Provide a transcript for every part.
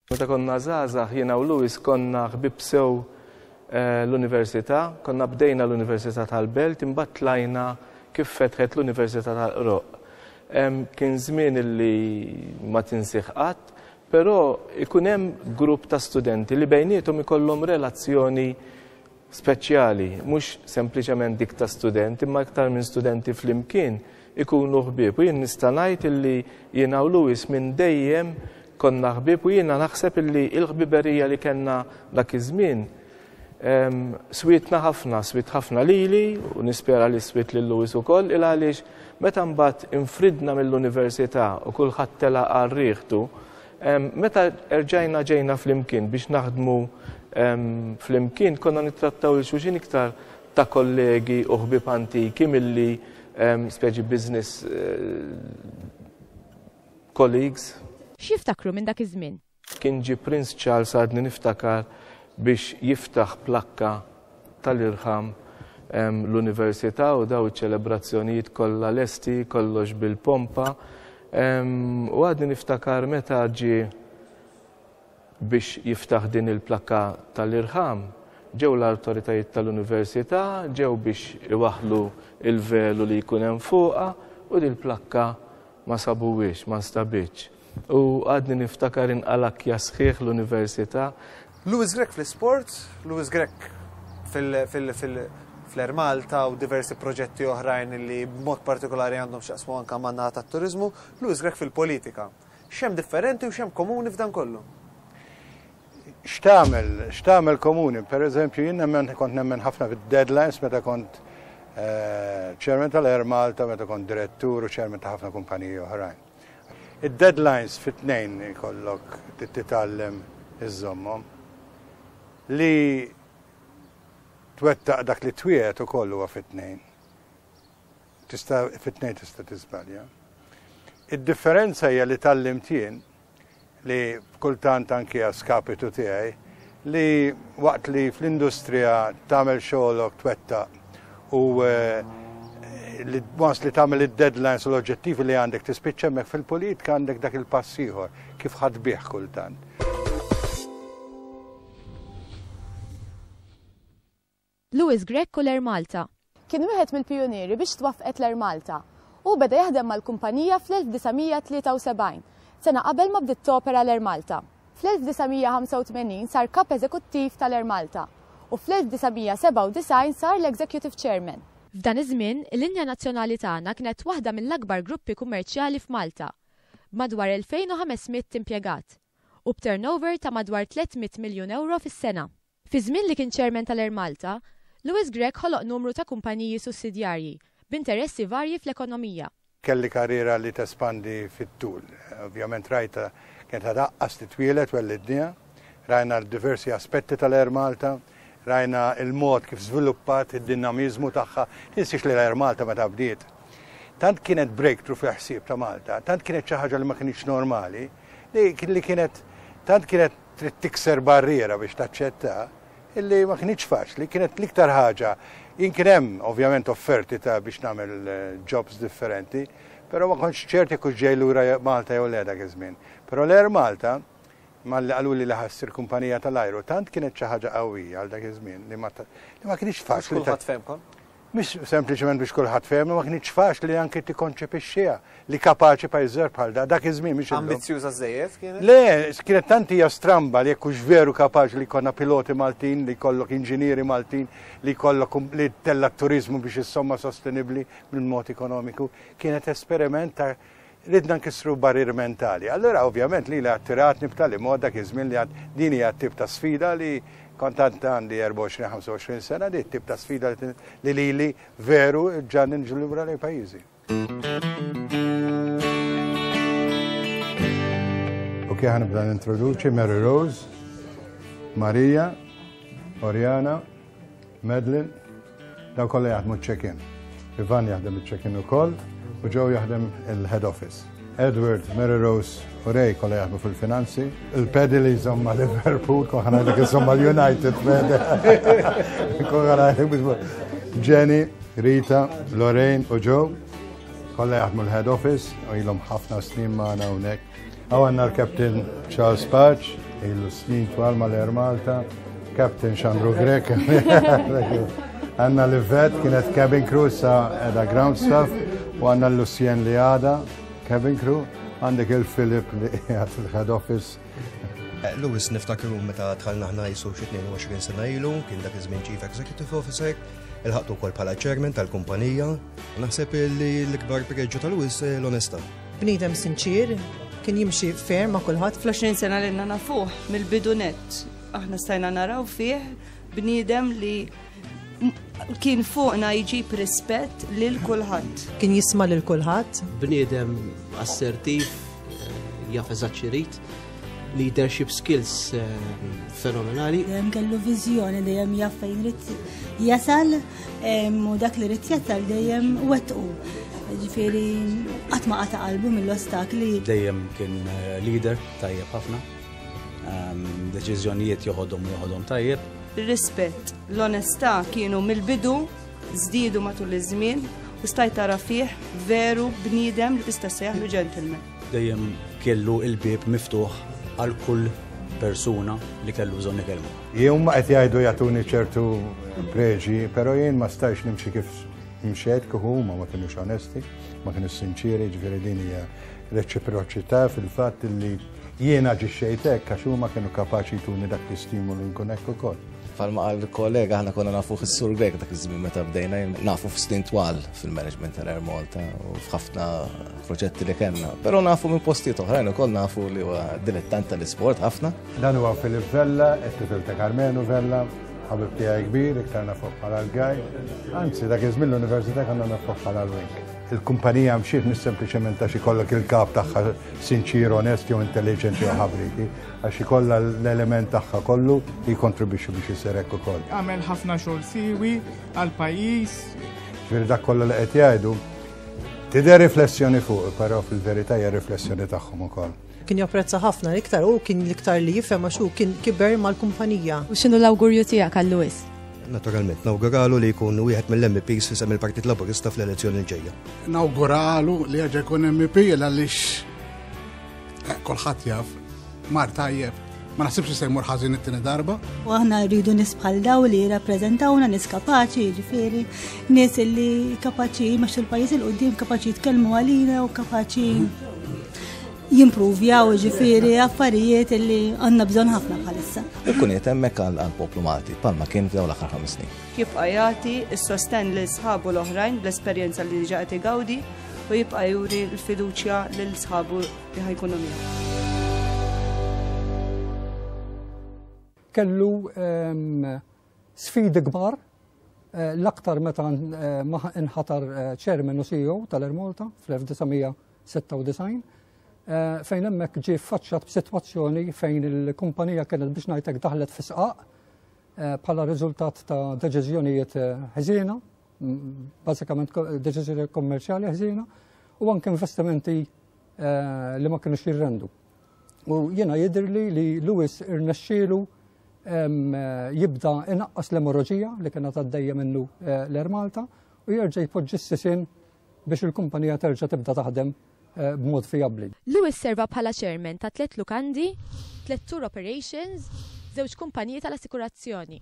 Meta konna żgħażagħ jiena u Louis konna ħbieb sew l-Università, konna bdejna l-Università tal-Belt imbagħad tlajna kif fetħet l-Università tal-Qroq. Kien żmien li ma tinsih qatt, però jkun hemm grupp ta' studenti li bejniethom ikollhom relazzjoni speċjali, mhux sempliċement dik ta' student imma iktar minn studenti flimkien ikunu ħbieb u jien nista' ngħid illi jiena u Louis minn dejjem konna ħbieb u jiena naħseb illi l-ħbiberija li kellna dak iż-żmien ehm, switna ħafna, swit ħafna lili u nispera li swit lil Louis ukoll il għaliex meta mbagħad infridna mill-università u kulħadd tela' għal rieħtu Meta erġajna ġejna flimkien biex naħdmu flimkien, konna nittrattaw il xulxin iktar ta' kollegi u ħbib antiki milli speċi business colleagues. X'jiftakru minn dak iż-żmien? Kien ġie Prince Charles għadni niftakar biex jiftaħ plakka tal-irħam hemm l-Università u daw iċ-ċelebrazzjonijiet kollha lesti, kollox bil-pompa. U għadni niftakar meta ġie biex jiftaħ din il-plakka tal-irħam, ġew l-awtoritajiet tal-Università, ġew biex iwaħlu il-velu li jkun hemm fuqha u din il-plakka ma sabuwiex, ma nstabitx. U għadni niftakar inqalakkja sħiħ l-Università. Louis Grech fl-isport, Louis Grech fl-Air Malta u diversi proġetti oħrajn li b'mod partikolari għandhom x'jaqsmu anke man-naħa tat-turiżmu, Louis Grech fil-politika. X'hemm differenti u x'hemm komuni f'dan kollu? X'tagħmel, x'tagħmel komuni? Pereżempju, jien nemmen kont nemmen ħafna fid-deadlines meta kont chairman tal-Air Malta, meta kont direttur u chairman ta' ħafna kumpaniji oħrajn. Id-deadlines fit-tnejn ikollok titgħallem iżżommhom. Li twettaq dak li twiegħed ukoll huwa fit-tnejn. Tista' fit-tnejn tista' tiżbalja. Id-differenza hija li tgħallimt jien li kultant anki a skapitu tiegħi, li waqt li fl-industrija tagħmel xogħolok twettaq u li once li tagħmel id-deadlines u l-oġġettivi li għandek tispiċċa hemmhekk fil-politika għandek dak il-pass ieħor kif ħadd bih kultant. Louis Grech u l-Air Malta. Kien wieħed mill-pijunieri biex twaffqet l-Air Malta. Hu beda jaħdem mal-kumpanija fl-1973, sena qabel ma bdiet topera l-Air Malta. Fl-1985 sar Kap Eżekuttiv tal-Air Malta u fl-1997 sar l-Executive Chairman. F'dan iż-żmien, il-linja nazzjonali tagħna kienet waħda mill-akbar gruppi kummerċjali f'Malta, b'madwar 2,500 impjegat, u b'turnover ta' madwar 300 miljun ewro fis-sena. Fiż-żmien li kien Chairman tal-Air Malta, Louis Grech ħoloq numru ta' kumpaniji sussidjarji, b'interessi varji fl-ekonomija. Kelli karriera li tespandi fit-tul. Ovvjament rajtha kienet għadha aqqas titwieled wellidniha. Rajna diversi aspetti tal-Air Malta. Rajna l-mod kif żviluppat, id-dinamiżmu tagħha. Tinsiex li l-Air Malta meta bdiet tant kienet breakthrough fil-ħsieb ta' Malta, tant kienet xi ħaġa li ma kinitx normali, li kienet tant kienet Trid tikser barriera biex taċċetta illi ma kinitx faċli, kienet l-iktar ħaġa. Jien kien hemm ovvjament offerti ta' biex nagħmel eh, jobs differenti, però ma kontx ċert jekk hux ġej lura Malta jew le dak iż-żmien. Però l-Air Malta malli qalu li ħassir kumpanija tal-ajru, tant kienet xi ħaġa qawwija għal dak iż-żmien li ma kinitx faċli. Kulħadd femkom? Mhix sempliċement biex kulħadd fehemha, ma kinitx faċli anki tikkonċepixxiha li kapaċi pajjiż żgħar bħal da, dak iż-żmien mhix illum. Ambizzjuża żejjed kienet? Le, kienet tant hija stramba li jekk hux veru kapaċi li jkollna piloti Maltin, li jkollok inġinieri Maltin, li jkollok um, li tella t-turiżmu biex issomma sostenibbli mill-mod ekonomiku, kienet esperiment ta' Ridna nkissru barrieri mentali. Allura ovvjament lili attiratni b'tali mod dak iż-żmien li għad din hija t-tip ta' sfida li kont għad għandi 24, 25 sena, di t-tip ta' sfida li lili veru ġġagħalni niġi lura lejn pajjiżi. Okej, ħanibda nintroduċi Mary Rose, Maria, Oriana, Madeline, Dawn kollha jaħdmu ċ-check-in. Ivan jaħdem iċ-check-in ukoll u Joe jaħdem il-head office. Edward, Mary Rose u Ray kollha jaħdmu fil-finanzi. Il-pedi li jżomm ma' Liverpool, koħan għajlek jżomm ma' United pedi. Koħan għajlek biex Jenny, Rita, Lorraine u Joe kollha jaħdmu l-head office u jilhom ħafna snin magħna hawnhekk. Għaw għanna l-Captain Charles Patch, il-snin twal mal-Air Malta, Captain Xandru Grek, għanna l-Vet, kienet cabin crew sa edha ground staff, u għanna l-Lucien li għada, cabin crew, għandek il-Filip li għat il-head office. Eh, Lewis niftakru meta tħallna ħna jisu 22 sena ilu, kien dak iż-żmien Chief Executive Officer, il-ħaqtu kol pala chairman tal-kumpanija, naħseb li l-ikbar preġġu tal-Lewis eh, l-onesta. Bniedem sinċier, kien jimxi fair ma' kulħadd. Fl-20 sena li għandna nafuh mill-bidu nett, aħna stajna naraw fih bniedem li kien fuqna jġib rispett lil kulħadd. Kien jisma' lil kulħadd. Bniedem assertiv, eh, jaf eżatt leadership skills eh, fenomenali. Dejjem kellu viżjoni dejjem jaf fejn rid jasal u dak li rid jasal dejjem wettqu. Ġifieri qatt ma qata' qalbu mill-ostakli. Dejjem kien eh, leader tajjeb ħafna. Deċiżjonijiet joħodhom joħodhom tajjeb. Rispett, l-onestà kienu mill-bidu żdiedu matul iż-żmien u stajt tara fih veru bniedem li tista' sejħlu ġentilmen. Dejjem kellu l-bieb miftuħ għal kull persuna li kellu bżonn ikellmu. Jum ma qed jgħidu jagħtuni ċertu preġi, però jien ma stajx nimxi kif mxed kif huma ma kienux onesti, ma kienux sinċieri, ġifieri din hija reċiproċità fil-fatt li jiena ġixxejtek għax huma kienu kapaċi jtuni dak l-istimulu nkun hekk ukoll. Palma għal kollega ħana konna nafu fis-sur Grek dak iż-żmien meta bdejna nafu f'snin twal fil-management tal Air Malta u f'ħafna proġetti li kellna. Però nafu minn postijiet oħrajn ukoll nafu li huwa dilettant tal-isport ħafna. Dan huwa Filip Vella, ex-tifel ta' Carmenu Vella, ħabib tiegħi kbir, iktar nafu bħala l-gaj. Anzi, dak iż-żmien l-università kellna nafu bħala l-wink. Il-kumpanija mxiet mis sempliċement ta' xi kollok il-kap tagħha sinċir, onest jew intelligenti jew ħabriki. Għax ikollha l-element tagħha kollu li jikkontribwixxi biex isir hekk ukoll. Għamel ħafna xogħol siwi għal pajjiż. Ġifieri dak kollha li qed jgħidu tidher riflessjoni fuq, però fil-verità hija riflessjoni tagħhom ukoll kien japprezza ħafna l-iktar u kien l-iktar li jifhem għax kien kiber mal-kumpanija. U x'inhu l-awgurju tiegħek għal Lewis? naturalment. Nawguralu li jkun wieħed mill-MPs fi sem il-Partit Laburista fl-elezzjoni l-ġejja. Nawguralu li għagħa jkun MP għaliex Eh, kulħadd jaf, mar tajjeb, ma naħsibx se jmur ħażin it-tieni darba. U aħna rridu nis bħal daw li jirrappreżentawna nis kapaċi, ġifieri, nis li kapaċi ma il-pajjiż il qudiem kapaċi jitkellmu għalina u kapaċi jimprovjaw ġifieri affarijiet li għandna bżonn ħafna bħalissa. Ikkun qed hemmhekk għall-poplu Malti, palma kien f'daw l-aħħar ħames snin. Jibqa' jagħti s-sostenn li sħabu l-oħrajn bl-esperjenza li diġà qed igawdi u jibqa' juri l-fiduċja lil sħabu li ħajkunu miegħu. kellu ehm, sfidi kbar eh, l-aktar meta eh, inħatar ċermen eh, u CEO tal-Air Malta fl-1996 fejn hemmhekk ġie faċċat b'sitwazzjoni fejn il-kumpanija kienet biex ngħidlek daħlet fisqaq bħala riżultat ta' deċiżjonijiet ħżiena bażikament deċiżjoni kommerċjali ħżiena u anke investimenti eh, li ma kienux jirrendu. U jiena jidhirli li Lewis irnexxielu jibda inaqqas l-emorroġija li kena taddejja minnu eh, l-Air Malta u jerġa' jpoġġi s-sisin biex il-kumpanija terġa' tibda taħdem Eh, b'mod fijabbli. Lewis serva bħala chairman ta' tliet lukandi, tliet tour operations, żewġ kumpaniji tal-assikurazzjoni.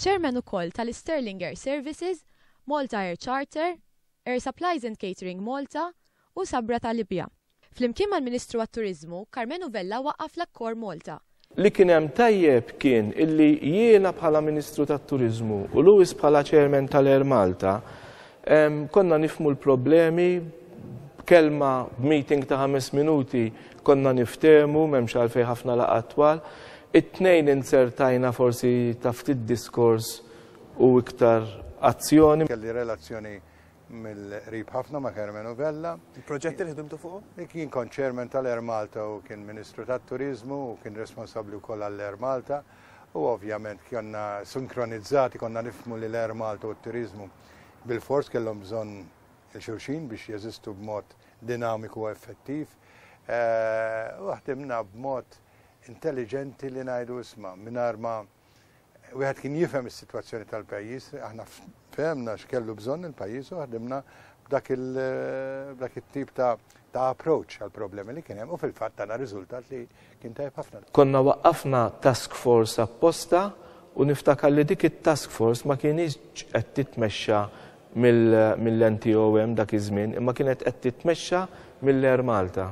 Chairman ukoll tal-Sterling Air Services, Malta Air Charter, Air Supplies and Catering Malta u Sabra ta' Libja. Flimkien mal-Ministru għat-Turiżmu, Karmenu Vella waqqaf l-Accor Malta, Li kien hemm tajjeb kien illi jiena bħala Ministru tat-Turiżmu u Lewis bħala Chairman tal-Air Malta konna nifhmu l-problemi b'kelma, b'meeting ta' ħames minuti konna niftehmu m'hemmx għalfejn ħafna laqgħat twal. It-Tnejn inzertajna forsi ta' ftit diskors u iktar azzjoni. Kelli relazzjoni mill-qrib ħafna ma' Carmenu Vella. Il-proġett li ħdimtu fuq? Kien kont chairman tal-Air Malta u kien Ministru tat-Turizmu u kien responsabbli wkoll għall-Air Malta u ovvjament konna sinkronizzati konna nifmu li l-Air Malta u t-Turizmu bil-fors kellhom bżonn il-xulxin biex jeżistu b'mod dinamiku u effettiv. Eh, u ħdimna b'mod intelligenti li ngħidu isma' mingħajr ma' Wieħed kien jifhem is-sitwazzjoni tal-pajjiż, aħna fehmna x'kellu bżonn il-pajjiż u ħdimna b'dak it-tip ta' ta' approach għal problemi li kien hemm u fil-fatt tana riżultat li kien tajb ħafna. Konna waqqafna task force apposta u niftakar li dik it-task force ma kienx qed titmexxa mill-NTOM dak iż-żmien imma kienet qed titmexxa mill-Air Malta.